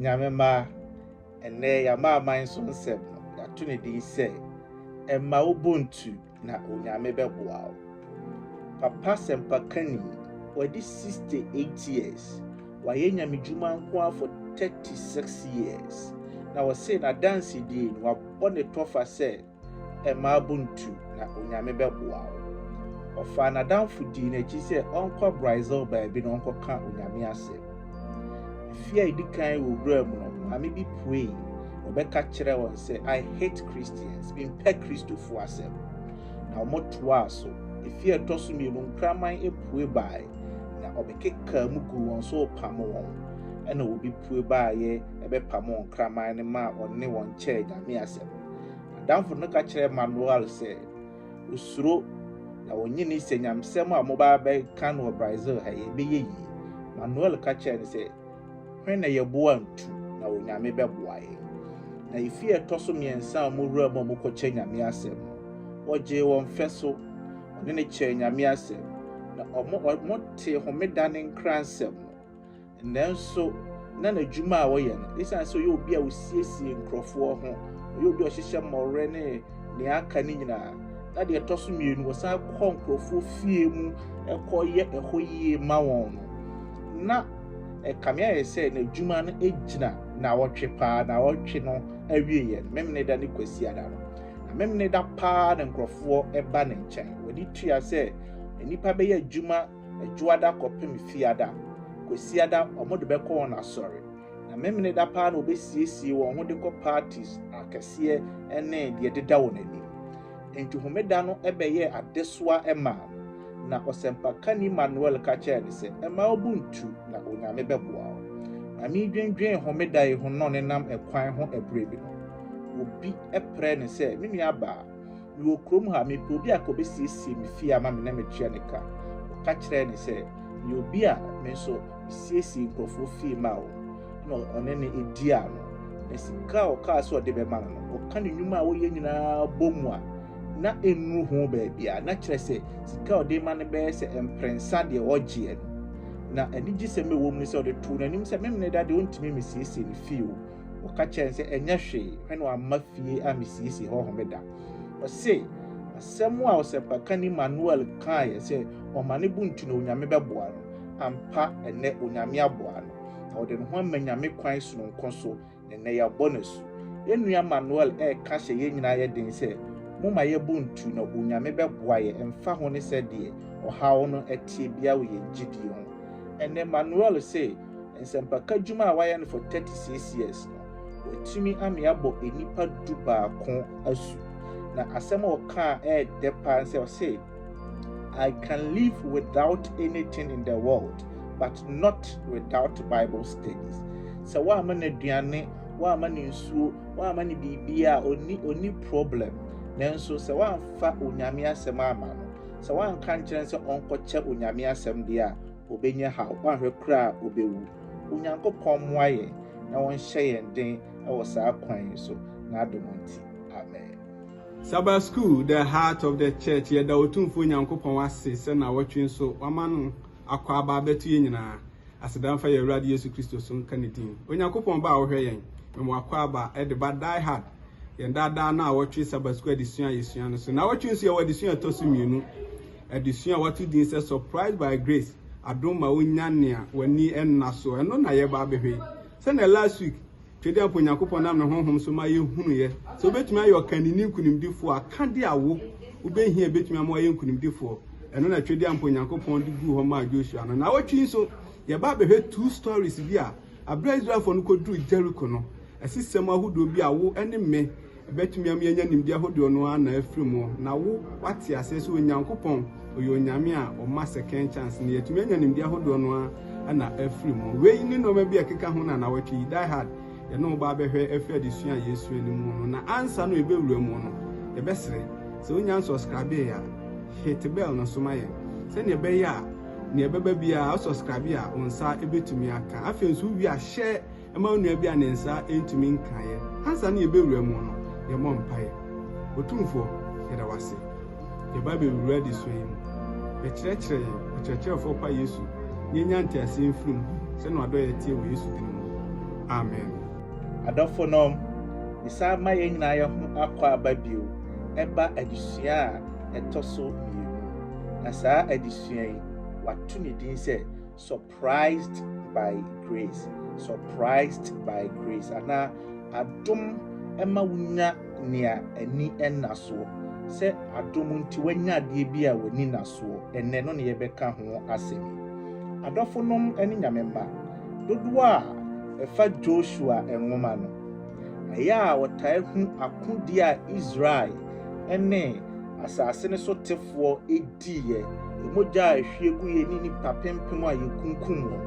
Nyame mma, ɛnnɛ y'amanaman so nsɛm no, y'ato ne din sɛ, ɛmma wo bo ntu na Onyame bɛboa wo. Papa sɛmpakani, w'adi 68 years, w'ayɛ Nyame dwuma nkoa for 36 years, na ɔse n'adansedie no, w'abɔ ne tɔfa sɛ, Mmaa buntu na Onyame bɛboa wo. Ɔfaa n'adamfo dii n'akyi sɛ ɔnkɔ Brazil baabi na ɔnkɔka Onyame asɛm. Mfe a edi kan wɔ wuram no, maame bi puei na ɔbɛka kyerɛɛ wɔn sɛ, I hate Christians, mempɛ Kristofo asɛm. Na wɔtoaa so. Mfe a ɛtɔ so mmienu, nkraman pue bae na ɔbɛkekaa mu guu wɔn so repam wɔn. Ɛnna obi pue baeɛ bɛpamoo nkraman no maa ɔne wɔn kyɛɛ Nyame asɛm. Adamfo no ka kyerɛɛ Manuel sɛ osuro na ɔnye no sɛ nyamsɛm a wɔba abɛka no wɔ Brazil ha yi ɛbɛyɛ yie. Manuel ka kyerɛɛ no sɛ, Hwɛ na yɛboa ntu na Onyame bɛboa yɛn. Na efi a ɛtɔ so mmiɛnsa a wɔwura mu a wɔkɔkyɛ Nyame asɛm no, wɔgyee wɔn fɛ so. Wɔne no kyɛɛ Nyame asɛm, na wɔtee Homeda ne Nkransɛm no. Nanso, na n'adwuma a ɔyɛ no, esiane sɛ ɔyɛ obi a osiesie nkurɔfoɔ ho, ɔyɛ obi a ɔhyehyɛ mmɔwerɛ ne nea aka no nyinaa, na deɛ ɛtɔ so mmienu, ɔsan kɔ nkurɔfoɔ fie mu kɔyɛ ɛhɔ yie ma wɔn no, na ɛkame ayɛ sɛ n'adwuma no gyina naawɔtwe paa. Naawɔtwe no awieeɛ no, Memeneda ne Kwasiada no, na Memeneda paa na nkurɔfoɔ ba ne nkyɛn. W'ani tua sɛ nnipa bɛyɛ adwuma Adwoada kɔpem Fiada, Kwasiada wɔn de bɛkɔ wɔn asɔre, na Memeneda paa na wɔbɛsiesie wɔn ho de kɔ parties akɛseɛ ɛne deɛ ɛdeda wɔn anim. Enti Homeda no bɛyɛɛ adesoa maa no, na Ɔsɛmpakani Manuel ka kyɛɛ no sɛ, Mma wo bo ntu, na Onyame bɛboa wo. Ma mendwendwen Homeda yi ho no nenam ɛkwan ho ɛberɛ bi no, obi prɛɛ no sɛ, Me nuabaa, Mewɔ kurom ha, mepɛ obi a kɔbɛsiesie me fie ama me na metua ne ka. Ɔka kyerɛɛ ne sɛ, Meyɛ obi a me nso mesiesie nkurɔfoɔ fie ma wɔn. Ɛna ɔne no dii ano. Na sika a ɔkaa sɛ ɔde bɛma no no, ɔka ne nnwuma a ɔyɛ nyinaa bɔ mu a, na ɛnnuru ho baabiara. Na kyerɛ sɛ, sika a ɔde rema no bɛyɛ sɛ mprɛnsa deɛ ɔgyeɛ no. Na anigyesɛm a ɛwɔ mu ne sɛ, ɔde too n'anim sɛ, Memeneda deɛ, ɔntumi mmɛsiesie me fie o. Wɔka kyerɛɛ no sɛ, Ɛnyɛ hwee, hwɛ na wamma fie a misiesie hɔ Homeda. Ɔse, Asɛm a ɔsɛmpakani Manuel kaeɛ sɛ ɔma ne bo ntu na Onyame bɛboa no, ampa ɛnnɛ Onyame aboa no, na ɔde ne ho ama Nyame kwan sononko so, na ɛnnɛ yɛabɔ no asu. Yɛn nua Manuel reka hyɛ yɛn nyinaa yɛ den sɛ, Momma yɛn bo ntu na Onyame bɛboa yɛn ɛmfa ho ne sɛdeɛ ɔhaw no teɛ biara wɔ yɛn gyedie ho. Ɛnnɛ Manuel se, Nsɛmpaka adwuma a wayɛ no for 36 years no, watumi ame abɔ nnipa du baako asu. Na asɛm a ɔkaa ɛyɛ dɛ paa sɛ ɔse, I can live without anything in the world but not without Bible studies. Sɛ woama no aduane, woama no nsuo, woama no biribiara a ɔni ɔni problem. Nanso sɛ woamfa Onyame asɛm ama no, sɛ woanka nkyerɛ no sɛ ɔnkɔkyɛ Onyame asɛm deɛ a, Obenya haw, wanhwɛ koraa a obewu. Onyankopɔn mmoa yɛn na ɔnhyɛ yɛn den wɔ saa kwan yi so, n'adom nti. Amen. Sabbath School, The Heart of the Church Yɛda Otumfoɔ Nyankopɔn ase sɛ nnawɔtwe nso wama no akwaaba abɛto yɛn nyinaa. Aseda mfa yɛn Awurade Yesu Kristo so nka ne din. Onyankopɔn Ba a wohwɛ yɛn ma mo akwaaba de ba Die Hard, yɛn daa daa nnawɔtwe Sabbath School adesua a yɛsua no so. Nnawɔtwe nso yɛwɔ adesua a ɛtɔ so mmienu. Adesua a wɔato din sɛ Surprised by Grace, Adom Ma Wunya Nea W'ani Nna So, ɛno na yɛreba abɛhwɛ yi. Sɛnea last week Twedeɛmpo Onyankopɔn nam ne honhom so ma yɛhunuiɛ sɛ wobɛtumi ayɛ ɔkanini nkonimdifoɔ a, ka deɛ a wo wobɛhia a ɛbɛtumi ama woayɛ nkonimdifoɔ. Ɛno na Twedeɛmpo Onyankopɔn de guu hɔ maa Joshua no. Naawɔtwe yi nso, yɛba abɛhwɛ two stories bi a, berɛ a Israelfoɔ no kɔduruu Jericho no, asisɛm ahodoɔ bi a wo ne me Ɛbɛtumi ama yɛanya nimdeɛ ahodoɔ no ara na afiri mu na wo wate aseɛ sɛ Onyankopɔn ɔyɛ Onyame a ɔma second chance no yɛatumi anya nimdeɛ ahodoɔ no ara na afiri mu. Wei ne nnoɔma bi a ɛkeka ho na nawɔtwe yi Die Hard yɛne wo ba bɛhwɛ afiri adesua a yɛsua no mu no na ansa no yɛbɛwura mu no yɛbɛsrɛ sɛ wo nya nsɔskrabee a hit bell no so ma yɛn sɛdeɛ ɛbɛyɛ a neɛ ɛbɛba biara wo sɔskrabee a wo nsa bɛtumi aka afei nso wo wie a hyɛ ma onua bi a ne nsa ntumi nkaeɛ. Ansa na yɛbɛwura mu no, yɛmmɔ mpaeɛ. Otumfoɔ, yɛda wo ase. Yɛba bɛwura adesua yi mu. Bɛkyerɛkyerɛ yɛn, Ɔkyerɛkyerɛfoɔ Pa Yesu, na yɛnya nteaseɛ mfiri mu sɛdeɛ w'adɔeɛ teɛ wɔ Yesu din mu. Amen. Adɔfonom, yɛsan ma yɛn nyinaa yɛn ho akwaaba bio ɛba adesua a ɛtɔ so mmienu. Na saa adesua yi, wɔato ne din sɛ, Sɔ Surprised by Grace, Surprised by Grace, anaa Adom ma wonya nea ani nna soɔ, sɛ adom nti woanya adeɛ bi a w'ani nna soɔ ɛnnɛ, ɛno na yɛbɛka ho asɛm yi. Adɔfonom ne Nyame mma, dodoɔ a ɛfa Joshua nwoma no, ɛyɛ a wɔtaa hu akodie a Israel ne asase no so tefoɔ dii yɛ, yɛ mogya a ehwie gu yɛ ne nnipa pempem a yekunkum wɔn.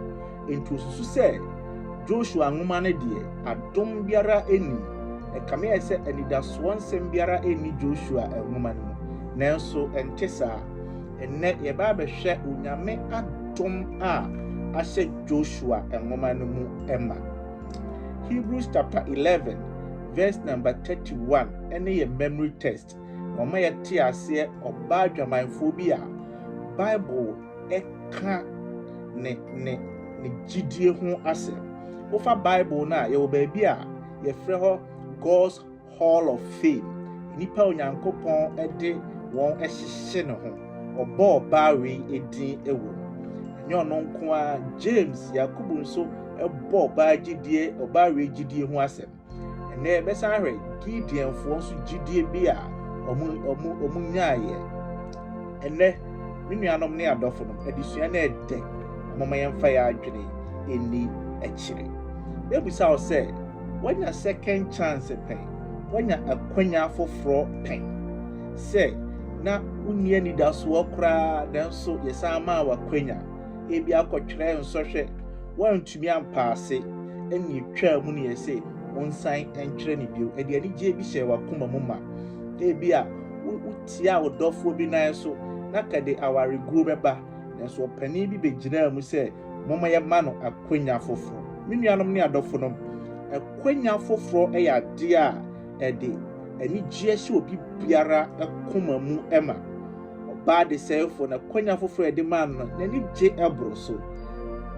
Enti osusu sɛ Joshua nwoma no deɛ, adom biara nnim. Ɛkame ayɛ sɛ anidasoɔ nsɛm biara nni Joshua nwoma no mu. Nanso ɛnte saa. Ɛnnɛ, yɛbɛ abɛhwɛ Onyame adom a ahyɛ Joshua nwoma no mu ma. Hebrews chapter eleven verse number thirty one ne yɛ memory text. Wɔma yɛte aseɛ ɔbaa adwamanfoɔ bi a Bible ka ne ne ne gyidie ho asɛm. Wofa Bible no a, yɛwɔ baabi a yɛfrɛ hɔ God's Hall of Fame, nnipa a Onyankopɔn de wɔn ahyehye ne ho. Ɔbɔɔ baa wei din wɔ mu. Ɛnyɛ ɔno nko ara, James, Yakobo nso bɔɔ ɔbaa gyidie, ɔbaa wei gyidie ho asɛm. Ɛnnɛ yɛbɛsan ahwɛ Gideonfoɔ nso gyidie bi a wɔn nyaeɛ. Ɛnnɛ, me nuanom ne adɔfo no, adesua no yɛ dɛ. Moma yɛmfa yɛn adwene ɛnni akyire. Mɛbisa wo sɛ, woanya second chance pɛn? Woanya akwanya foforɔ pɛn? Sɛ na wonni anidasoɔ koraa nanso yɛsan maa wo akwanya. Ebia kɔtwerɛ nsɔhwɛ. antumi ampa ase, ɛnna etwaa mu na ɛyɛ sɛ wonsan nkyerɛ no bio. Ɛde anigye bi hyɛɛ w'akoma mu ma. Ebia wotiaa wo dɔfoɔ bi nan so, na ka de awareguo bɛba, nanso ɔpanin bi bɛgyinaa mu sɛ, Momma yɛmma no akwannya foforɔ. Me nuanom ne adɔfonom, akwannya foforɔ yɛ adeɛ a ɛde anigyeɛ hyɛ obi biara koma mu ma. Ɔbaa desɛefo no akwanya foforo a ɛde maa no no, n'ani gye boro so.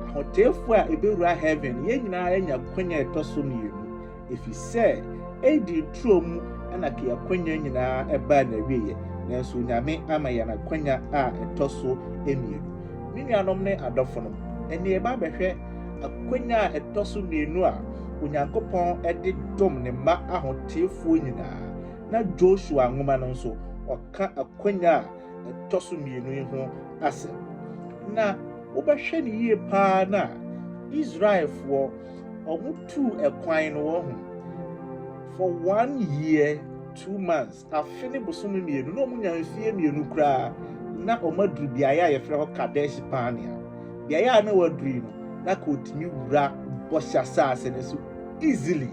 Ahoteefo a ebewura heaven no, yɛn nyinaa anya akwanya a ɛtɔ so mmienu, efisɛ Eden turo mu na key akwanya nyinaa baa n'awieɛ, nanso Onyame ama yɛn akwanya a ɛtɔ so mmienu. Me nuanom ne adɔfonom, ɛnneɛ yɛba abɛhwɛ akwanya a ɛtɔ so mmienu a Onyankopɔn de dom Ne mma ahoteefoɔ nyinaa, na Joshua nwoma no nso, ka akwannya a ɛtɔ so mmienu yi ho asɛm. Na wobɛhwɛ no yie paa no a, Israelfoɔ wɔtuu ɛkwan no wɔn ho for one year two months afe ne bosome mmienu na wɔnya mfeɛ mmienu koraa na wɔaduru beaeɛ a yɛfrɛ hɔ Kadesh Barnea beaeɛ a na wɔaduru yi no na ka wɔtumi wura bɔhyɛ asase no so easily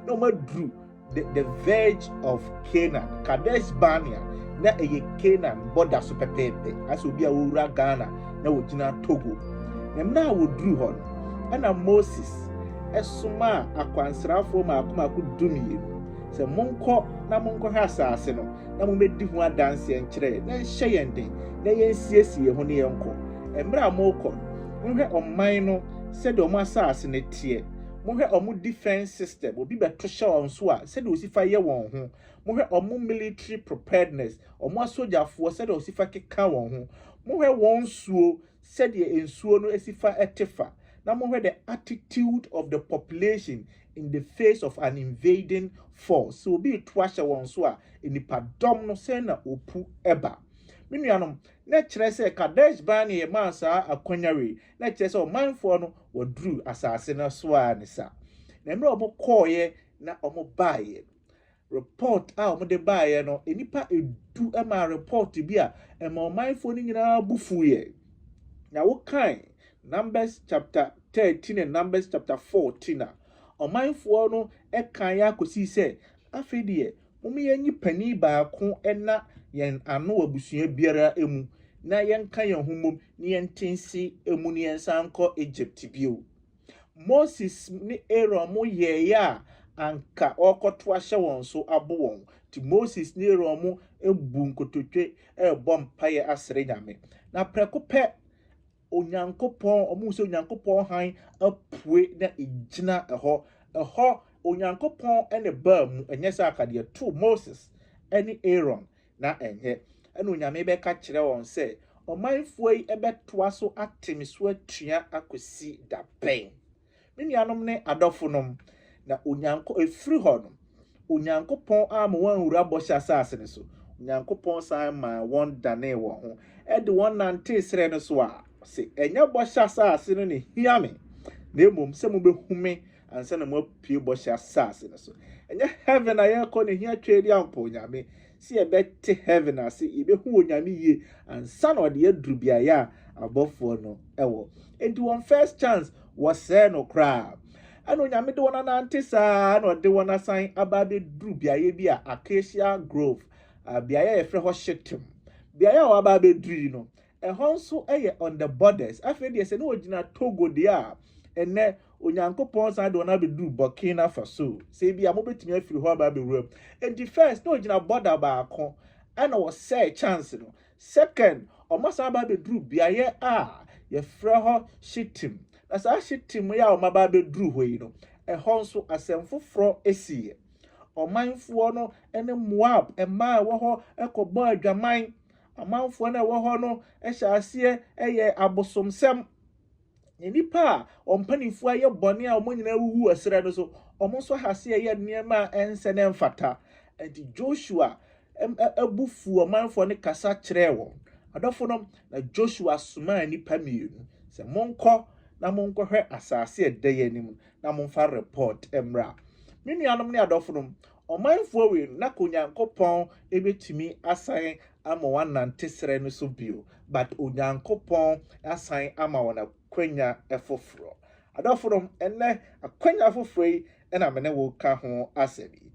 na wɔaduru The, the verge of Canaan, Kadesh Barnea, na ɛyɛ Canaan bɔda so pɛpɛɛpɛ. Asɛ obi a wɔwura Ghana na wɔgyina Togo. Na mmerɛ a wɔduru hɔ no, ɛna Moses ɛsomaa akwansrafoɔ mako mako dumienu sɛ monkɔ na monkɔhwɛ asase no na mommɛdi ho adanseɛ nkyerɛ yɛn na nhyɛ yɛn den na yɛnsiesie yɛn ho ne yɛnkɔ. Mmerɛ a morekɔ no, monhwɛ ɔman no sɛdeɛ ɔmo asase no teɛ Mohwɛ wɔn defence system, obi bɛto hyɛ wɔn so a, sɛdeɛ wɔsi fa yɛ wɔn ho. Mohwɛ wɔn military preparedness, wɔn asogyafoɔ sɛdeɛ wɔsi fa keka wɔn ho. Mohwɛ wɔn nsuo, sɛdeɛ nsuo no si fa te fa. Na mohwɛ the attitude of the population in the face of an invading force. Sɛ obi reto ahyɛ wɔn so a, nnipadɔm no sɛn na wɔpu ba. Me nuanom, na ɛkyerɛ sɛ Kadesh-barnea maa saa akwanya wei. na kyerɛ sɛ ɔmanfoɔ no wɔduruu asase no so ara ne saa. Na mmerɛ a wɔkɔeɛ na wɔbaeɛ no, report a wɔde baeɛ no, nnipa du maa report bi a ɛmaa ɔmanfoɔ no nyinaa bo fuiɛ. Na wokan Numbers chapter thirteen and Numbers chapter fourteen a, ɔmanfoɔ no kaeɛ ara kɔsii sɛ, Afei deɛ Mom yɛnyi panin baako na yɛn ano wɔ abusua biara mu na yɛnka yɛn ho mmom na yɛnte nse mu na yɛnsan nkɔ Egypt bio. Moses ne Aaron mo yɛeɛ a anka ɔrekɔto ahyɛ wɔn so abo wɔn, nti Moses ne Aaron mo buu nkototwe rebɔ mpaeɛ asrɛ Nyame. Na prɛko pɛ, Onyankopɔn, wɔhu sɛ Onyankopɔn hann apue na egyina hɔ. Ɛhɔ, Onyankopɔn ne baa mu, ɛnyɛ sɛ aka deɛ too Moses ne Aaron, na ɛnyɛ. Ɛna Onyame bɛka kyerɛ wɔn sɛ, Ɔmanfoɔ yi bɛtoa so ate me so atua akɔsi da bɛn? Me nuanom ne adɔfonom, na Onyanko, ɛfiri hɔ no, Onyankopɔn amma wɔn anwura Bɔhyɛ Asase no so. Onyankopɔn san maa wɔn danee wɔn ho de wɔn nantee serɛ no so a, ɔse, Ɛnyɛ Bɔhyɛ Asase no na ɛhia me, na mmom sɛ mobɛhu me ansa na moapue Bɔhyɛ Asase no so. Ɛnyɛ Heaven a yɛrekɔ na ɛhia Tweediampɔw Nyame, sɛ yɛbɛte heaven ase, yɛbɛhu Onyame yie ansa na ɔde aduru beaeɛ a abɔfoɔ no wɔ. Enti wɔn first chance, wɔsɛɛ no koraa. Ɛna Onyame de wɔn anante saa na ɔde wɔn asan aba abɛduru beaeɛ bi a Acacia Grove, beaeɛ a yɛfrɛ hɔ Shittim. Beaeɛ a wɔaba abɛduru yi no, Ɛhɔ nso yɛ on the borders. Afei deɛ sɛ ne wɔgyina Togo deɛ a, ɛnɛ Onyankopɔn san de wɔn abɛduru Burkina Faso. Sɛ ebi a mobɛtumi afiri hɔ aba abɛwura mu. Enti first na wɔgyina border baako ɛna wɔsɛe chance no. Second, wɔasan aba abɛduru beaeɛ a yɛfrɛ hɔ Shitim. Na saa Shitim yi a wɔaba abɛduru hɔ yi no, ɛhɔ nso asɛm foforɔ siiɛ. Ɔmanfoɔ no ne Moab mmaa a ɛwɔ hɔ kɔbɔɔ adwaman. Amanfoɔ no a ɛwɔ hɔ no hyɛ aseɛ yɛ abosomsɛm. Na nnipa a wɔn mpanimfoɔ ayɛ bɔne a wɔn nyinaa awuwu wɔ serɛ no so, wɔn nso aha aseɛ yɛ nneɛma a ɛnsɛ na ɛmfata. Enti Joshua bo fuu ɔmanfoɔ no kasa kyerɛɛ wɔn. Adɔfonom, na Joshua somaa nnipa mmienu sɛ, Monkɔ na monkɔhwɛ asase a ɛda yɛn anim no, na momfa repɔɔt mmra. Me nuanom ne adɔfonom, Ɔmanfoɔ wei no, na ka Onyankopɔn bɛtumi asan ama wɔanante serɛ no so bio, but Onyankopɔn asan ama wɔn akwanya foforɔ. Adɔfonom, ɛnnɛ, akwanya foforɔ yi na me ne wo reka ho asɛm yi.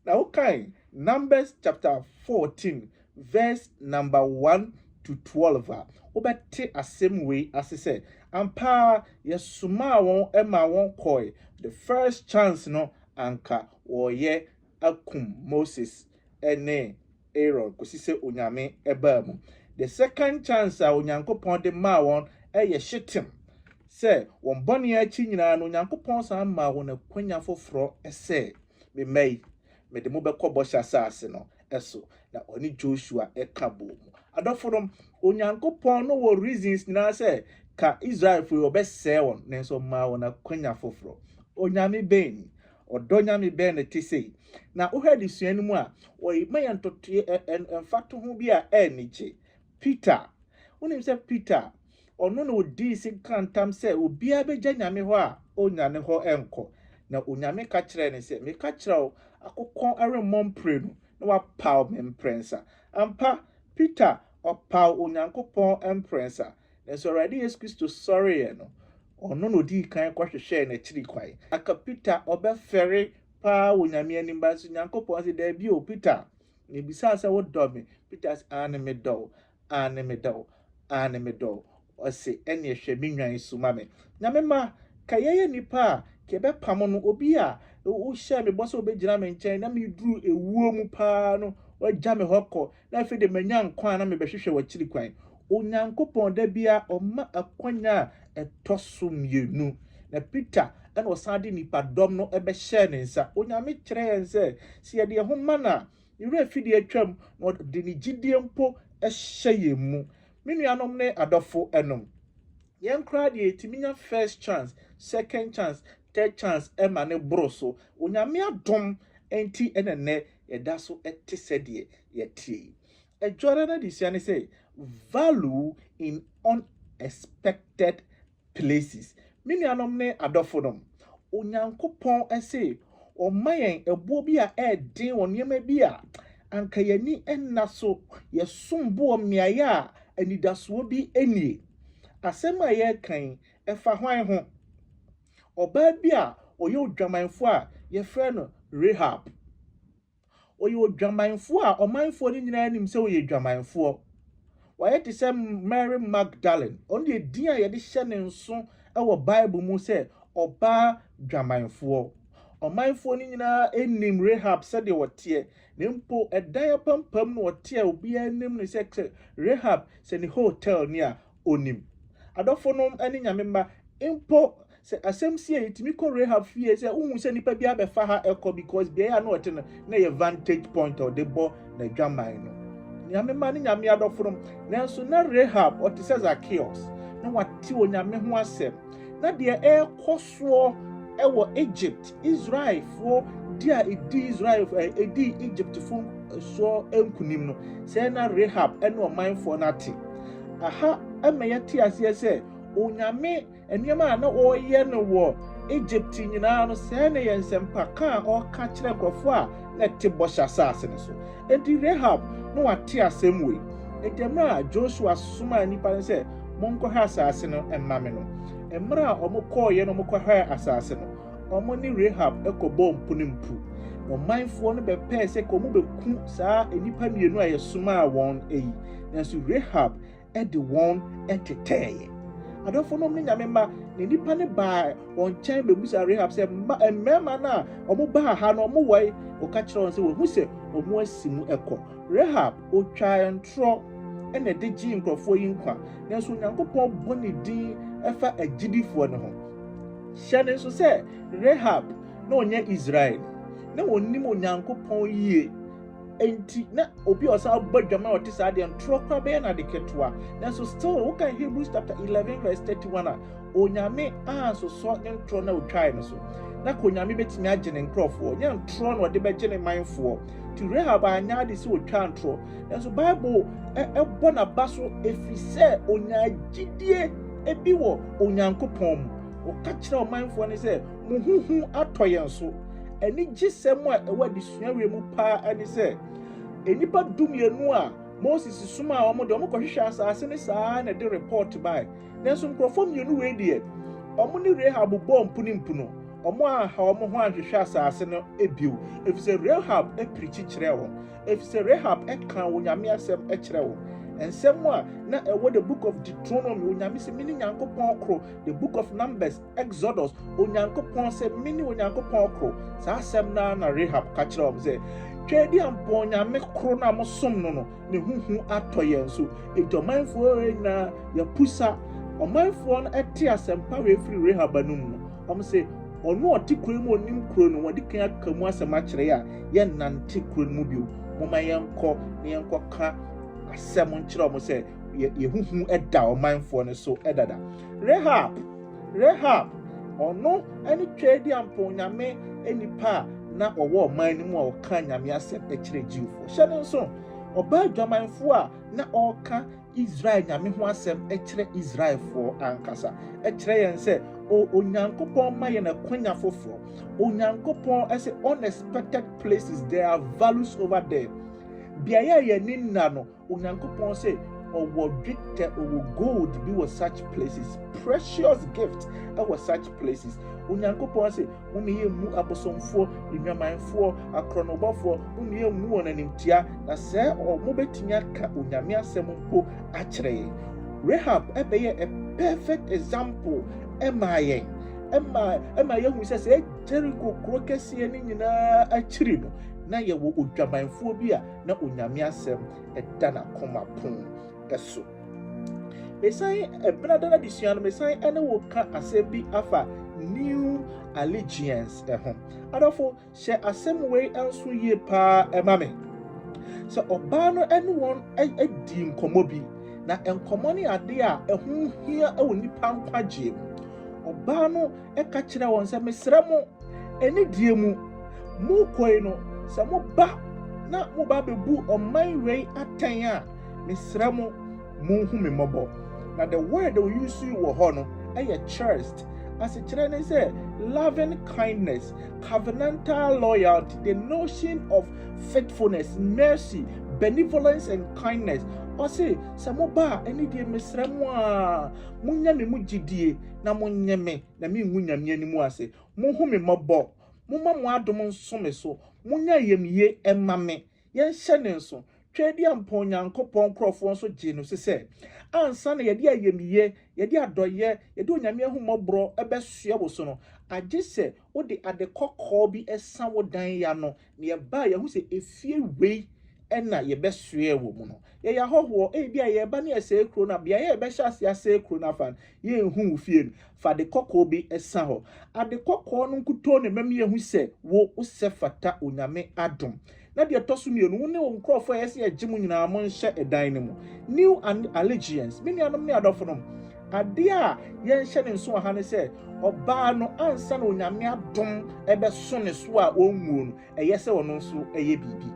Na wokan Numbers chapter fourteen verse number one to twelve a, wobɛte asɛm wei ase sɛ, Ampa ara yɛsomaa wɔn maa wɔkɔɔe, the first chance no anka wɔreyɛ akum Moses ne Aaron kɔsi sɛ Onyame baa mu. The second chance a Onyankopɔn de maa wɔn yɛ Shittim, sɛ wɔn bɔne akyi nyinaa no Onyankopɔn san maa wɔn akwanya foforɔ sɛ, Me mma yi, mede mo bɛkɔ bɔhyɛ asase no. so, na ɔne Joshua ka boom. Adɔfonom, Onyankopɔn no wɔ reasons nyinaa sɛ ka Israelfo yi ɔbɛsɛe wɔn, nanso ɔmaa wɔn akwanya foforɔ. Onyame bɛn ni? Ɔdɔ Nyame bɛn na ɛte sei? Na wohwɛ adesua no mu a, ɔma yɛn ntotoeɛ, mfatoho bi a ɛyɛ anigye. Peter, wonim sɛ Peter, Ɔno na odii sin kaa ntam sɛ obiara begya Nyame hɔ a onnya ne hɔ nkɔ. Na Onyame ka kyerɛɛ no sɛ, Meka kyerɛ wo, akokɔn remmɔ mprenu na wapaw me mprɛnsa. Ampa, Peter, ɔpaw Onyankopɔn mprɛnsa, nanso Awurade Yesu Kristo sɔreeɛ no, ɔno na odii kan kɔhwehwɛɛ n'akyiri kwan. Anka Peter ɔbɛfɛre paa wɔ Nyame anim, nanso Nyankopɔn se, Dabi o, Peter, mibisaa sɛ wodɔ me? Peter se, Aane, medɔ wo. Aane medɔ wo, aane medɔ wo Ɔse ɛneɛ hwɛ me nnwan yi so ma me Nyame ma ka yɛyɛ nnipa a ka yɛbɛpamo no Obi a wo hyɛɛ me bɔ sɛ wobɛgyina me nkyɛn Na meduru ɛwuo mu paa no wagya me hɔ kɔ Na afei deɛ manya nkwa a na mebɛhwehwɛ w'akyiri kwan Onyankopɔn da biara ɔma akwanya a ɛtɔ so mmienu Na Peter ɛna ɔsan de nnipadɔm no bɛhyɛɛ ne nsa Onyame kyerɛ yɛn sɛ sɛ yɛde yɛn ho ma no a Ne werɛ fi deɛ atwam na ɔde ne gyidie mpo hyɛ yɛn mu. Me nuanom ne adɔfo nom, yɛn koraa deɛ yɛtumi nya first chance, second chance, third chance ma no boro so. Onyame adom nti na nnɛ yɛda so te sɛdeɛ yɛteɛ yi. Adwora no adesua ne sɛ, Value in Unexpected places. Me nuanom ne adɔfo nom, Onyankopɔn se ɔma yɛn ɛboɔ bi a ɛɛden wɔ nneɛma bi a anka y'ani nna so. Yɛsom bo wɔ mmeaeɛ a anidasoɔ bi nnie. Asɛm a yɛreka yi, ɛfa hwan ho? Ɔbaa bi a ɔyɛ odwamanfoɔ a yɛfrɛ no Rahab. Ɔyɛ odwamanfoɔ a ɔmanfoɔ no nyinaa nim sɛ ɔyɛ dwamanfoɔ. Wayɛ te sɛ Mary Magdalene. Ɔno deɛ edin a yɛde hyɛ ne nso wɔ Bible mu sɛ ɔbaa dwamanfoɔ. Ɔmanfoɔ no nyinaa nim Rahab sɛdeɛ ɔteɛ, na mpo ɛdan apampam na ɔte a obiara nim no sɛ sɛ Rahab sɛ ne hotel ni a, onim. Adɔfonom ne Nyame mma, mpo sɛ asɛm si a yɛtumi kɔ Rahab fie sɛ wohu sɛ nipa bi abɛfa ha ɛkɔ because beae a na ɔte no na ɛyɛ vantage point a ɔde bɔ n'adwaman no. Nyame mma ne Nyame adɔfonom, nanso na Rahab ɔte sɛ Zacchaeus, na wate Onyame ho asɛm. Na deɛ ɛrekɔ soɔ wɔ Egypt Israelfoɔ di a ɛdii Israel ɛdii Egyptfoɔ soɔ nkunim no, sɛɛ na Rahab ne ɔmanfoɔ no ate. Aha ɛma yɛte aseɛ sɛ Onyame nneɛma a na ɔreyɛ no wɔ Egypt nyinaa no, sɛɛ na ɛyɛ nsɛmpaka a ɔreka kyerɛ nkurɔfoɔ a na ɛte bɔhyɛ asase no so. Enti Rahab na wate asɛm wei. Enti mmerɛ a Joshua somaa nnipa no sɛ monkɔhwɛ asase no mma me no, mmerɛ a wɔkɔeɛ na wɔkɔhwɛɛ asase no, wɔne Rahab kɔbɔɔ mpunimpu. Ɔmanfoɔ no bɛpɛɛ sɛ ka wɔbɛku saa nnipa mmienu a yɛsomaa wɔn yi, nanso Rahab de wɔn tetɛeɛ. Adɔfo nom ne nyame mma, na nnipa no baa wɔn nkyɛn bɛbusaa Rahab sɛ, mma mmarima no a wɔbaa ha no wɔwɔ yi? Ɔka kyerɛ wɔn sɛ wɔahu sɛ wɔasi mu kɔ. Rahab Ɔtwaa ntorɔ na ɛde gyee nkurɔfoɔ yi nkwa, nanso Onyankopɔn bɔ ne din fa agyidifoɔ no ho. Hyɛ no nso sɛ Rahab na ɔnyɛ Israelni. Na ɔnim Onyankopɔn yie, enti na obi a ɔsan bɔ adwaman a ɔte saa deɛ, ntorɔ koraa bɛyɛ no ade ketewa. Nanso still, wokan Hebrews chapter eleven verse thirty one a, Onyame ansosɔ ne ntorɔ na otwae no so. Na ka Onyame betumi agye ne nkurɔfoɔ? Ɛnyɛ ntorɔ na ɔde bɛgye ne manfoɔ. Nti Rahab anyɛ ade sɛ otwaa ntorɔ. Nanso Bible bɔ n'aba so ɛfiri sɛ onyaa gyidie bi wɔ Onyankopɔn mu. Ɔka kyerɛɛ ɔmanfoɔ no sɛ, Mo ho hu atɔ yɛn so. Anigyesɛm a ɛwɔ adesua wei mu paa ne sɛ, nnipa dumienu a Moses somaa wɔn deɛ, wɔkɔhwehwɛɛ asase no saa ara na ɛde repɔɔto bae. Nanso nkurɔfoɔ mmienu wei deɛ, wɔn ne Rahab bɔɔ mpunimpuno, wɔanha wɔn ho anhwehwɛ asase no bio, ɛfiri sɛ Rahab pirikyi kyerɛɛ wɔn, ɛfiri sɛ Rahab kaa Onyame asɛm kyerɛɛ wɔn. Nsɛm a na ɛwɔ The Book of Deuteronomy, Onyame se, Mene Nyankopɔn koro, The Book of Numbers, Exodus, Onyankopɔn sɛ, Mene Onyankopɔn koro. Saa asɛm no ara na Rahab ka kyerɛɛ wɔn sɛ, Tweaduampɔn nyame koro no a mosom no no, ne ho hu atɔ yɛn so. Enti ɔmanfoɔ nyinaa, yɛapusa. Ɔmanfoɔ no te asɛmpa wei firi Rahab anom no, wɔse, Ɔno a ɔte kuro yi mu a ɔnim kuro no, wɔadi kan aka mu asɛm akyerɛ yɛn a, yɛnnante kuro no mu bio. Momma yɛnkɔ na yɛnkɔka asɛm nkyerɛ wɔn sɛ, Yɛn ho hu da ɔmanfoɔ no so dada. Rahab. Rahab, ɔno ne Twadiampɔw nyame nipa a na ɔwɔ ɔman no mu a ɔka Nyame asɛm kyerɛ Jewfo. Hyɛ no nsow, ɔbaa adwamanfo a na ɔreka Israel Nyame ho asɛm kyerɛ Israelfo ankasa. Ɛkyerɛ yɛn sɛ Onyankopɔn ma yɛn akwanya foforo. Onyankopɔn sɛ unexpected places, there are values over there. Beaeɛ a yɛn ani nna no, Onyankopɔn se ɔwɔ dwetɛ, ɔwɔ gold bi wɔ such places, precious gift wɔ such places. Onyankopɔn se mo ne yɛn mmu abosomfoɔ, nnwamanfoɔ, akorɔnobɔfoɔ, mo ne yɛn mmu wɔn animtia, na sɛ wɔn bɛtumi aka Onyame asɛm mpo akyerɛ yɛn. Rahab bɛyɛ a perfect example ɛmaa yɛn, ɛma ɛma yɛhu sɛ sɛ Jericho kuro kɛseɛ no nyinaa akyiri no, na yɛwɔ odwamanfoɔ bi a na Onyame asɛm da n'akoma pon so. Mesan ɛbena dada de sua no mesan ɛne wo ka asɛm bi afa new allegiance ɛho. Adɔfo hyɛ asɛm wei nso yie paa ɛma me. Sɛ ɔbaa no ɛne wɔn adi nkɔmɔ bi na nkɔmɔ ne adeɛ a ɛho hia ɛwɔ nipa nkwagyeɛ mu. Ɔbaa no ka kyerɛɛ wɔn sɛ, Mesrɛ mo, ɛne deɛ mu morekɔ yi no, sɛ moba na moba bɛbu ɔman wei atɛn a, mesrɛ mo, monhu me mmɔbɔ. Na the word a wɔyusu wɔ hɔ no yɛ chirst. Asekyerɛ ne sɛ loving kindness, covenantal loyalty, the notion of faithfulness, mercy, benevolence and kindness. Ɔse sɛ moba a ɛne deɛ mesrɛ mo a monya me mu gyidie. na monnye me na mingu Nyame anim ase. Munhu me mmɔbɔ. Momma mo adom nso me so. Monyɛ ayamye mma me. Yɛnhyɛ ne nso. Tweaduampɔn Onyankopɔn nkurɔfoɔ nso gyee no se sɛ, Ansa na yɛde ayamye, yɛde adɔeɛ, yɛde Onyame ahummɔborɔ bɛsoɛ wo so no, agye sɛ Wode ade kɔkɔɔ bi sa wo dan yɛ ano, na yɛbae, yɛahu sɛ efie wei na yɛbɛsoɛɛ wɔ mu no. Yɛyɛ ahɔhoɔ, ebia yɛreba na yɛsɛe kuro no a, beaeɛ a yɛbɛhyɛ aseɛ asɛe kuro no afa no, yɛnhu wo fie no. Fa ade kɔkɔɔ bi sa hɔ. Ade kɔkɔɔ no nkutoo na ɛbɛma yɛahu sɛ wo, wosɛ fata Onyame adom. Na deɛ ɛtɔ so mmienu, wo ne wo nkurɔfoɔ a ɛyɛ sɛ yɛgye mo nyinaa monhyɛ dan no mu. New Allegiance. Me nuanom ne adɔfonom, adeɛ a yɛnhyɛ no nso wɔ ha ne sɛ, ɔbaa no ansa na Onyame adom bɛso ne so a ɔnwuo no, ɛyɛ sɛ ɔno nso yɛ biribi.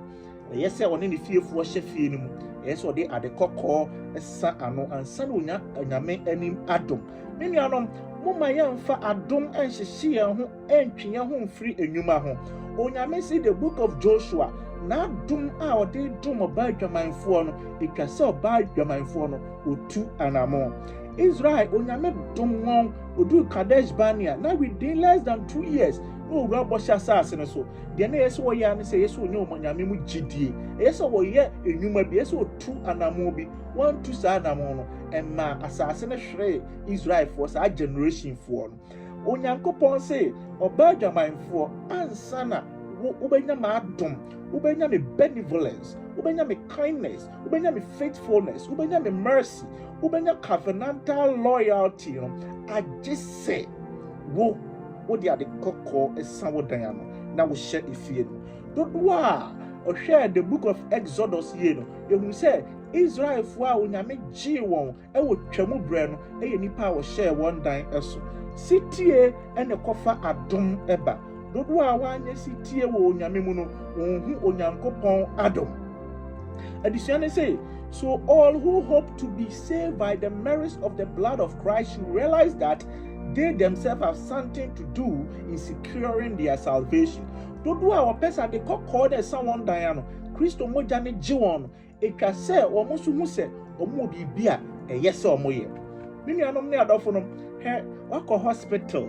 Ɛyɛ sɛ ɔne ne fiefoɔ hyɛ fie no mu. Ɛyɛ sɛ ɔde ade kɔkɔɔ sa ano ansa na ɔnya Onyame anim adom. Me nuanom, momma yɛmfa adom nhyehye yɛn ho. ɛntwe yɛn ho mfiri nnwuma ho. Onyame se The Book of Joshua, N'adom a ɔde dom ɔbaa adwamanfoɔ no, ɛtwa sɛ ɔbaa adwamanfoɔ no, ɔtu anamon. Israel, Onyame dom wɔn, ɔduu Kadesh Barnea, na within less than two years, na wɔwura bɔhyɛ asaase no so. Deɛ na ɛyɛ sɛ wɔyɛ ara ne sɛ, ɛyɛ sɛ wɔnya wɔn Nyame mu gyidie. Ɛyɛ sɛ wɔyɛ nnwuma bi, ɛyɛ sɛ wɔtu anamon bi. Wɔantu saa anamon no, ɛmaa asaase no hweree Israelfoɔ, saa generationfoɔ no. Onyankopɔn se ɔbɛ adwamanfoɔ ansa na wo wobɛnya m'adom, wobɛnya me benevolence, wobɛnya me kindness, wobɛnya me faithfulness, wobɛnya me mercy, wobɛnya covenantal loyalty no agye sɛ wo wode ade kɔkɔɔ sa wo dan ano na wohyɛ efie no. Dodoɔ a ɔhwɛɛ the book of Exodus yie no, yɛhunu sɛ Israelfoɔ a Onyame gyee wɔn wɔ Twam berɛ no yɛ nnipa a wɔhyɛɛ wɔn dan so. Setie na ɛkɔfa adom ba. Dodoɔ a wɔanyɛ setie wɔ Onyame mu no, wɔnhu Onyankopɔn adom. Adesua ne se, So all who hope to be saved by the merits of the blood of Christ should realize that they themselves have something to do in securing their salvation. Dodoɔ a wɔpɛ sɛ ade kɔkɔɔ na ɛsa wɔn dan ano, Kristo mogya no gye wɔn no, Etwa sɛ wɔn nso hu sɛ wɔwɔ biribi a ɛyɛ sɛ wɔyɛ. Me nuanom ne adɔfonom, hwɛ, woakɔ hospital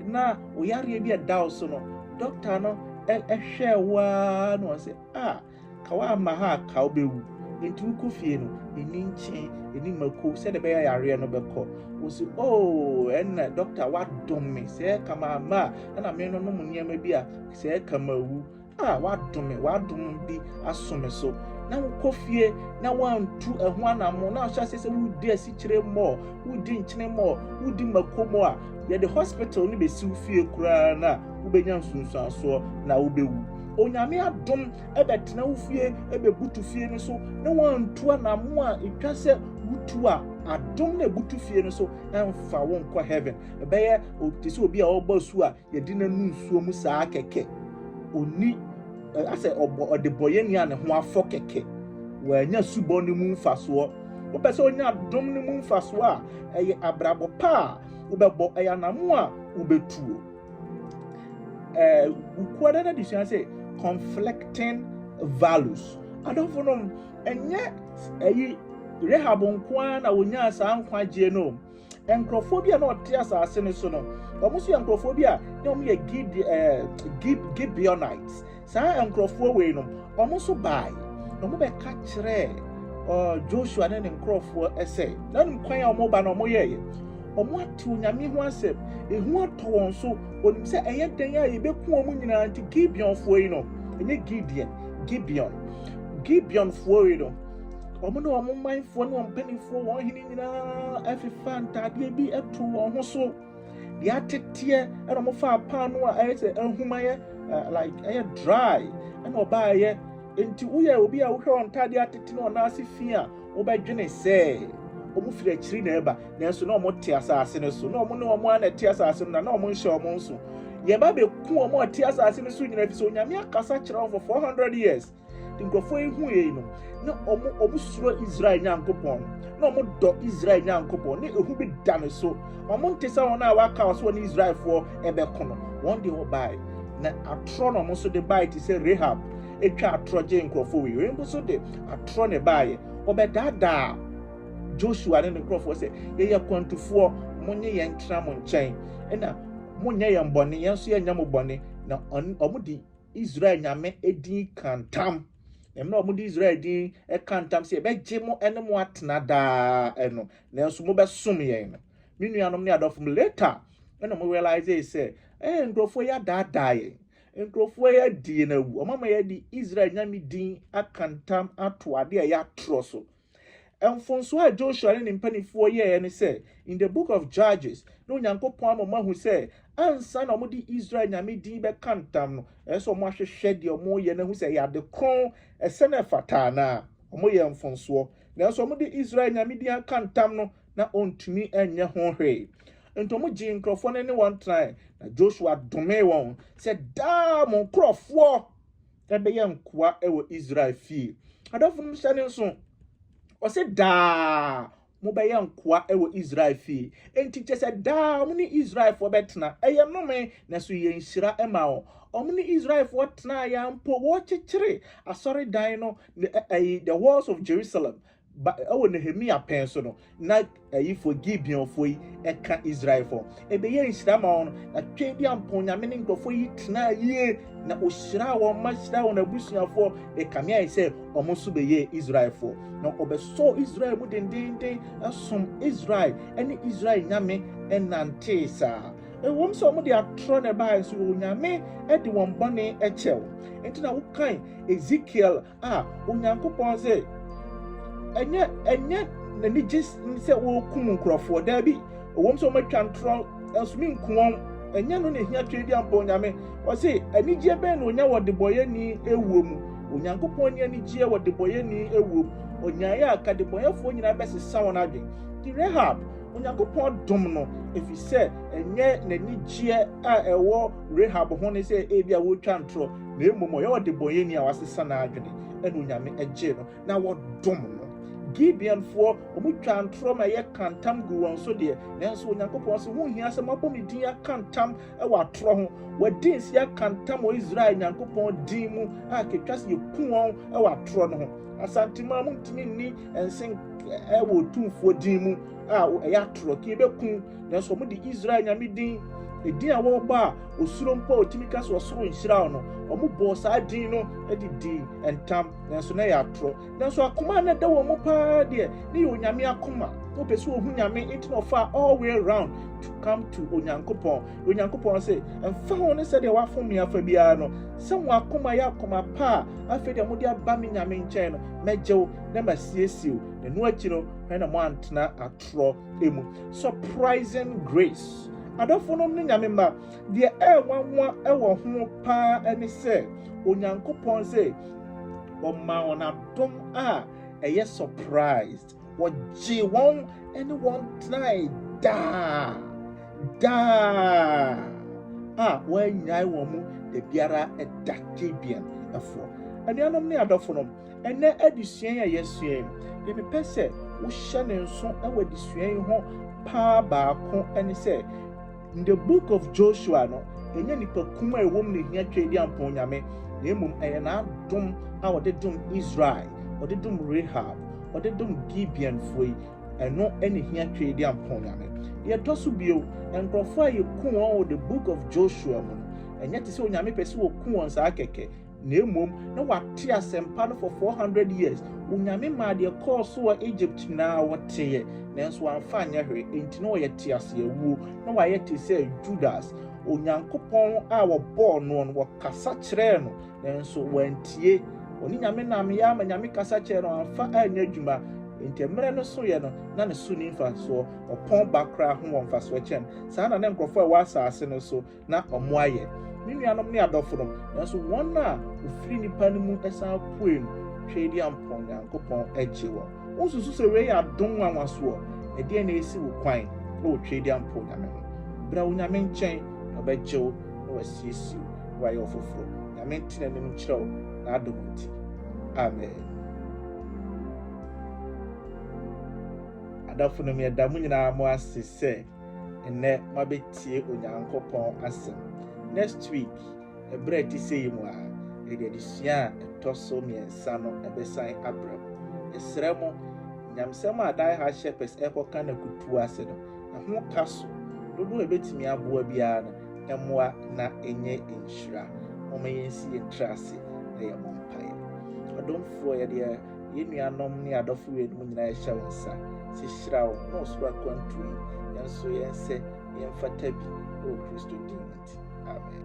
na wo yareɛ bi ɛda wo so no, dɔkta no hwɛɛ wo ara na wɔn sɛ, a, ka woamma ha a ka wobɛwu. Enti wokɔ fie no, ɛni nkye, ɛni mako, sɛdeɛ ɛbɛyɛ yareɛ no bɛkɔ. Wo sɛ, o, oh, ɛnna dɔkta woadom me, sɛ ɛka mamma a, ɛna menonom nneɛma bi a, sɛ ɛka mawu. a wadom me, wadom bi aso me so na wokɔ fie na wantu ɛho anamo na ahyɛ ase sɛ wodi asikyire mmɔ wodi nkyene mmɔ wodi mako mmɔ a yɛde hospital no bɛsiw fie koraa na wobɛnya nsunsuansoɔ na wobɛwu onyame adom ɛbɛtena wo fie ɛbɛbutu fie no so na wantu anamo a ɛtwa sɛ wotu a adom na ɛbutu fie no so ɛmfa wo nkɔ heaven ɛbɛyɛ te sɛ obi a ɔbɔ su a Yɛde no anu nsuo mu saa kɛkɛ. Ɔnni, asɛ ɔbɔ, ɔdebɔyɛni a ne ho afɔ kɛkɛ. Wanya subɔ no mu mfasoɔ. Wopɛ sɛ ɔnya dom no mu mfasoɔ a, ɛyɛ abrabɔ pa a wobɛbɔ, ɛyɛ anamo a wobɛtuo. Ɛɛ, wukuada no adesua sɛ conflicting values. Adɔfo nom, ɛnyɛ ɛyi Rahab nkoa na wɔnyaa saa nkwagyeɛ no. Nkurɔfoɔ bi a na wɔte asase no so no, wɔn nso yɛ nkurɔfoɔ bi a na wɔyɛ Gide, eh, Gib, Gibeonites. Saa nkurɔfoɔ wei no, wɔn nso bae na wɔbɛka kyerɛɛ uh, Joshua ne ne nkurɔfoɔ sɛ, na nim kwan a wɔba na wɔyɛeɛ. Wɔate Onyame ho asɛm, ehu atɔ wɔn so, wɔnim sɛ ɛyɛ dɛn a yɛbɛku wɔn nyinaa nti Gibeonfoɔ yi no, ɛnyɛ Gideon, Gibeon. Gibeonfoɔ yi no, wɔn ne wɔn manfoɔ ne wɔn mpanimfoɔ, wɔn hene nyinaa fefaa ntaadeɛ bi too wɔn ho so deɛ ateteɛ ɛna wɔfaa paano a ɛyɛ sɛ ahum ayɛ like ɛyɛ dry ɛna ɔbaayɛ nti woyɛ obi a wohwɛ wɔn ntaadeɛ atete na wɔn ase fi a wobɛdwene sɛ wɔn firi akyiri na ɛba nanso na wɔn te asase no so na wɔn ne wɔn a na ɛte asase no na na wɔn nhyɛ wɔn nso yɛba bɛku wɔn a ɛte asase no so nyinaa fi sɛ onyame akasa kyerɛ wɔn for four hundred years Nkurɔfoɔ yi hu yei no, na wɔn, wɔsuro Israel Nyankopɔn, na wɔdɔ Israel Nyankopɔn, na ehu bi da ne so. Wɔnte sɛ wɔn a wɔaka wɔ so wɔne Israelfoɔ bɛko no. Wɔn deɛ wɔbae, na atorɔ na wɔn nso de bae te sɛ Rahab twa atorɔ gyee nkurɔfoɔ wei. Wei nso de atorɔ na ɛbaeɛ. Wɔbɛdaadaa Joshua ne ne nkurɔfoɔ sɛ, yɛyɛ akwantufoɔ, monye yɛn ntena mo nkyɛn, na monyɛ yɛn bɔne, yɛn nso yɛnyɛ mo bɔne, na wɔn, wɔn de israel nyame din ka ntam na mmerɛ a wɔde israel din ka ntam sɛ yɛbɛgye mo ne mo atena daa no nanso mobɛsom yɛn no me nuanom ne adɔfo m later ɛna mo realize sɛ ɛɛ nkurɔfoɔ yi adaadaa yɛn nkurɔfoɔ yi adie no awu ɔmama yɛde israel nyame din aka ntam ato adeɛ a ɛyɛ atorɔ so Mfomso a Joshua ne ne mpanimfoɔ yɛeɛ ne sɛ, in the book of Judges, na Onyankopɔn ama wɔahu sɛ, ansa na wɔde Israel Nyame din bɛka ntam no, ɛsɛ sɛ wɔahwehwɛ deɛ wɔreyɛ no ahu sɛ ɛyɛ ade kronn, ɛsɛ na ɛfata anaa. Wɔyɛɛ mfomsoɔ, nanso wɔde Israel Nyame din aka ntam no, na wɔntumi nyɛ ho hwee. Enti wɔgyee nkurɔfoɔ no ne wɔn tenaeɛ, na Joshua domee wɔn sɛ, Daa mo nkurɔfoɔ! bɛyɛ nkoa wɔ Israel fie. Adɔfo no hyɛ ne nso, ɔse daa mobɛyɛ nkoa wɔ Israel fie. Enti kyɛ sɛ daa wɔn ne Israelfoɔ bɛtena. Ɛyɛ nnome, na so yɛ nhyira ma wɔn. Wɔn ne Israelfoɔ tenaeɛ ara mpo, wɔkyekyere asɔredan no, the walls of Jerusalem. Ba, ɛwɔ Nehemia pɛn so no, na ɛyifoɔ Gibeonfoɔ yi ɛka Israelfoɔ. Ɛbɛyɛ nhyira ma wɔn, na Tweaduampɔn Nyame ne nkurɔfoɔ yi tenaa yie, na ɔhyiraa wɔn ma hyiraa wɔn abusuafoɔ, ɛkame ayɛ sɛ wɔn nso bɛyɛɛ Israelfoɔ. Na wɔbɛsɔɔ Israel mu dendeenden, som Israel ne Israel Nyame nantee saa. Ɛwom sɛ wɔde atorɔ na ɛbaeɛ nso, Onyame de wɔn bɔne kyɛɛ wɔn. Enti na wokan Ezekiel a Onyankopɔn dze ɛnyɛ ɛnyɛ n'anigye sɛ wɔrekum nkurɔfoɔ daabi ɛwɔm sɛ wɔatwa ntorɔ nanso menku wɔn ɛnyɛ no na ɛhia twɛ bi ampɔ onyame ɔse anigyeɛ bɛn na ɔnya wɔ debɔyɛni awuo mu onyankopɔn ni anigyeɛ wɔ debɔyɛni awuo mu ɔnyaeɛ a ka debɔyɛfoɔ nyinaa bɛsesa wɔn adwen ti rehab onyankopɔn dom no ɛfiri sɛ ɛnyɛ n'anigyeɛ a ɛwɔ rehab ho ne sɛ ebi a wɔretwa ntorɔ Na mmom ɔyɛ ɔdebɔneyɛni a wasesa n'adwene, ɛna Onyame gyee no, na wɔdom no. Gibeonfoɔ, wɔtwaa ntorɔ ma ɛyɛ ka ntam guu wɔn so deɛ, nanso Onyankopɔn se, Ho nhia sɛ moabɔ me din aka ntam wɔ atorɔ ho. Wɔadi nse aka ntam wɔ Israel Nyankopɔn din mu a ketwa se yɛku wɔn wɔ atorɔ no ho. Asantemaa, montumi nni nse nka wɔ Otumfoɔ din mu a ɛyɛ atorɔ, ke yɛbɛku nanso wɔde Israel Nyame din, edin a wɔbɔ a osuro mpo a otumi ka sɛ ɔsoro nhyira wo no, wɔbɔɔ saa din no de dii ntam, nanso na ɛyɛ atorɔ. Nanso akoma a na ɛda wɔn mu paa deɛ, ne yɛ onyame akoma. Na wɔpɛ sɛ wɔhu Nyame, enti na wɔfaa all way round to come to Onyankopɔn. Na Onyankopɔn se, Ɛmfa ho ne sɛdeɛ wɔafom me afa biara no, sɛ mo akoma yɛ akoma pa a afei deɛ mode aba me Nyame nkyɛn no, mɛgye wo na masiesie wo, na ɛno akyi no, hwɛ na moantena atorɔ. mu surprising grace adɔfo nom ne nyame mma deɛ ɛɛwanwa ɛwɔ ho paa ɛne sɛ onyankopɔn sɛ ɔma wɔn adom a ɛyɛ surprised wɔgye wɔn ɛne wɔn tenae daa daa a wɔanyae wɔn mu da biara ɛda kyebian ɛfoɔ anuanom ne adɔfo nom Ɛnnɛ adesua yi a yɛasua yi, deɛ mepɛ sɛ wohyɛ ne nso wɔ adesua yi ho paa baako ne sɛ, in the book of Joshua no, ɛnyɛ nipa kum a ɛwɔ mu na ɛhia twɛ di ampɔn nyame, na mmom ɛyɛ n'adom a ɔde dom Israel, ɔde dom Rahab, ɔde dom Gibeonfoɔ yi, ɛno ɛna ɛhia twɛ di ampɔn nyame. Deɛ ɛtɔ so bio, nkurɔfoɔ a yɛku wɔn wɔ the book of Joshua mu no, ɛnyɛ te sɛ onyame pɛ sɛ wɔku wɔn saa kɛkɛ, Na mmom na wɔate asɛmpa no for four hundred years, Onyame maa deɛ ɛkɔɔ so wɔ Egypt nyinaa wɔteeɛ, nanso wɔamfa anyɛ hwee, enti na wɔyɛ teaseawuo, na wɔayɛ te sɛ Judas, Onyankopɔn a wɔbɔɔ noɔ no, wɔkasa kyerɛɛ no, nanso wɔantie, ɔne Nyame nameeɛ ara ma Nyame kasa kyerɛɛ no, amfa anyɛ adwuma, enti mmerɛ no soeɛ no, na ne so nni mfasoɔ, ɔpɔn ba koraa ho wɔ mfasoɔ kyɛn, saa na ne nkorɔfoɔ a ɛwɔ asaase no so. na wɔayɛ me nuanom ne adɔfonom, nanso wɔn a wɔfiri nnipa no mu san puee no twaa di ampa Onyankopɔn gyee wɔn. Wonsusu sɛ wei yɛ adom nwanwa soɔ? Ɛdeɛn na ɛresi wo kwan na wotwaa di ampa Onyame ho? Bra Onyame nkyɛn na ɔbɛgye wo na wasiesie wo na wayɛ wo foforɔ. Nyame nte n'anim nkyerɛ wo n'adom nti. Amen. Adɔfonom yɛda mo nyinaa mo ase sɛ. Nnɛ moabɛtie Onyankopɔn asɛm. Next week, ɛberɛ a ɛte sɛ yi mu a, yɛde adesua a ɛtɔ so mmiɛnsa no bɛsan abrɛ mo. Yɛsrɛ mo, nyamsɛm a Die Hard Shepherds rekɔka no akutuo ase no, ɛho ka so. Dodoɔ a ɛbɛtumi aboa biara no, ɛmmoa na ɛnyɛ nhyira. Momma yɛnsi yɛn tiri ase na yɛmmɔ mpaeɛ. Ɔdomfoɔ, yɛde yɛn Yɛn nuanom ne adɔfo weinom nyinaa yɛhyɛ wo nsa sɛ hyira wɔn na ɔsoro akwantu yi yɛn nso yɛn sɛ yɛmfata bi wɔ Kristo din nti. Amen.